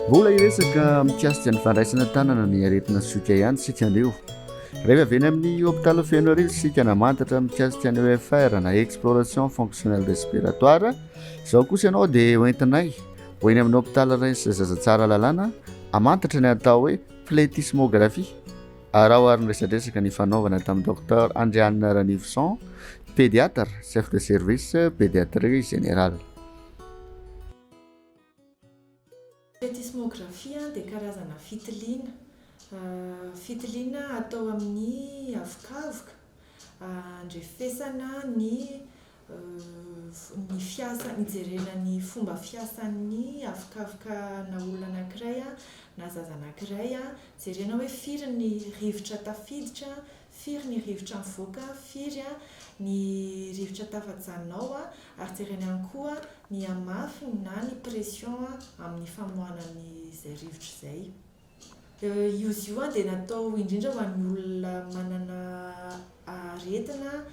Mbola hiresaka mikasika ny fandraisana tanana ny aretina soika ihany isika anio. Rehefa avy eny amin'ny hôpitaly Fenoarivo isika namantatra mikasika ny EFR na exploration fonctionnelle respiratoire. Izao kosa ianao dia hoentinay ho eny amin'ny hôpitaly Reims Zaza Tsaralalàna hamantatra ny atao hoe flétismographie. Araho ary ny resadresaka nifanaovana tamin'i Docteur Andrianina Ranivoson, Pédiatre, Chef de Service, Pédiatrie Générale. Plétismographie dia karazana fitiliana, fitiliana atao amin'ny havokavoka, andrefesana ny ny fiasa, nijerena ny fomba fiasan'ny havokavoka na olona anankiray na zaza anankiray, jerena hoe firy ny rivotra tafiditra, firy ny rivotra mivoaka, firy ny rivotra tafajanona ao ary jerena ihany koa ny hamafiny na ny pression amin'ny famoahana an'izay rivotra izay. Izy io dia natao indrindra ho an'ny olona manana aretina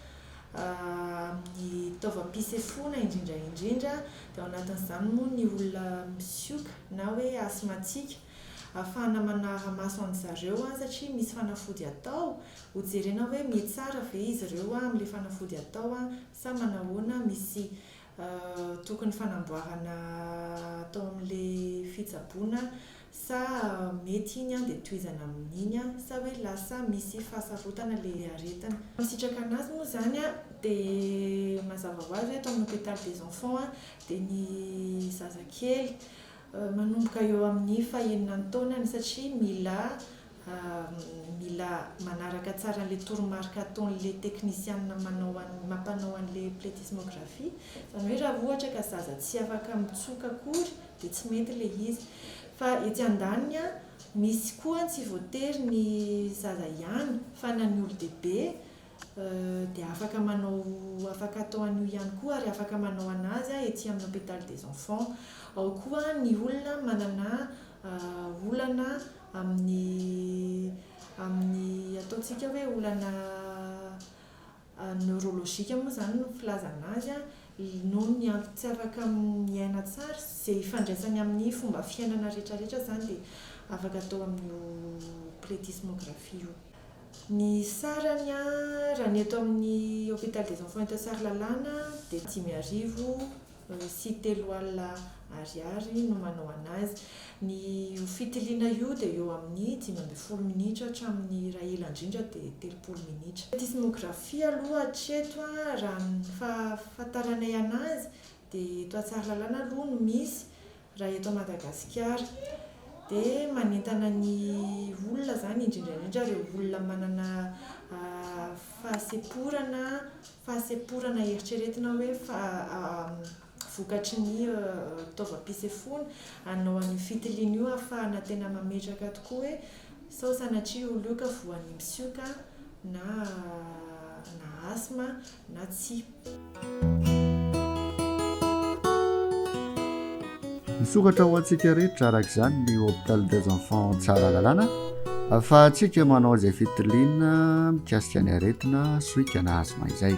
amin'ny taovam-pisefoana indrindra indrindra, dia ao anatin'izany moa ny olona misioka na hoe asmatika, ahafahana manara maso an-dry zareo satria misy fanafody atao, ho jerena hoe mihetsara ve izy ireo amin'ilay fanafody atao sa manahoana, misy Tokony fanamboarana atao amin'ilay fitsaboana sa mety iny an dia tohizana amin'iny an sa hoe lasa misy fahasarotana ilay aretina. Masitraka anazy moa izany an, dia mazava ho azy hoe eto amin'ny hôpital des enfants an dia ny zazakely manomboka eo amin'ny fahenina taonany satria mila Mila manaraka tsara an'ilay toromarika ataon'ilay teknisianina manao an'ilay mampanao an'ilay pletysmographie. Izany hoe raha ohatra ka zaza tsy afaka mitsoka akory dia tsy mety ilay izy. Fa etsy andaniny an, misy koa an, tsy voatery ny zaza ihany fa na ny olon-dehibe dia afaka manao, afaka atao an'io ihany koa ary afaka manao an'azy an, ety amin'ny hôpital des enfants. Ao koa ny olona manana olana amin'ny amin'ny ataontsika hoe olana neurologique moa izany no filazana azy an, noho ny antony tsy afaka miaina tsara, izay ifandraisany amin'ny fomba fiainana rehetrarehetra izany dia afaka atao amin'io pletysmographie io. Ny sarany an, raha ny eto amin'ny Hôpital des Enfants eto Tsaralalàna dia dimy arivo. Misy telo alina Ariary no manao an'azy. Ny io fitiliana io dia eo amin'ny dimy ambin'ny folo minitra hatramin'ny raha ela indrindra dia telopolo minitra. Tsy sismografia aloha hatreto a, raha ny fahafantaranay an'azy dia eto Tsaralalana aloha no misy Raha eto Madagasikara dia manentana ny olona izany indrindra indrindra ireo olona manana fahasemporana fahasemporana eritreretina hoe vokatry ny fitaovam-pisefoana hanao an'io fitiliana io ahafahana tena mametraka tokoa hoe sao sanatria io olona io ka voan'ny msioka na na asthme na tsia. Misokatra ho antsika rehetra araka izany ny Hôpital des Enfants Tsaralalàna ahafahantsika manao izay fitiliana mikasika ny aretina sohika na asthme izay.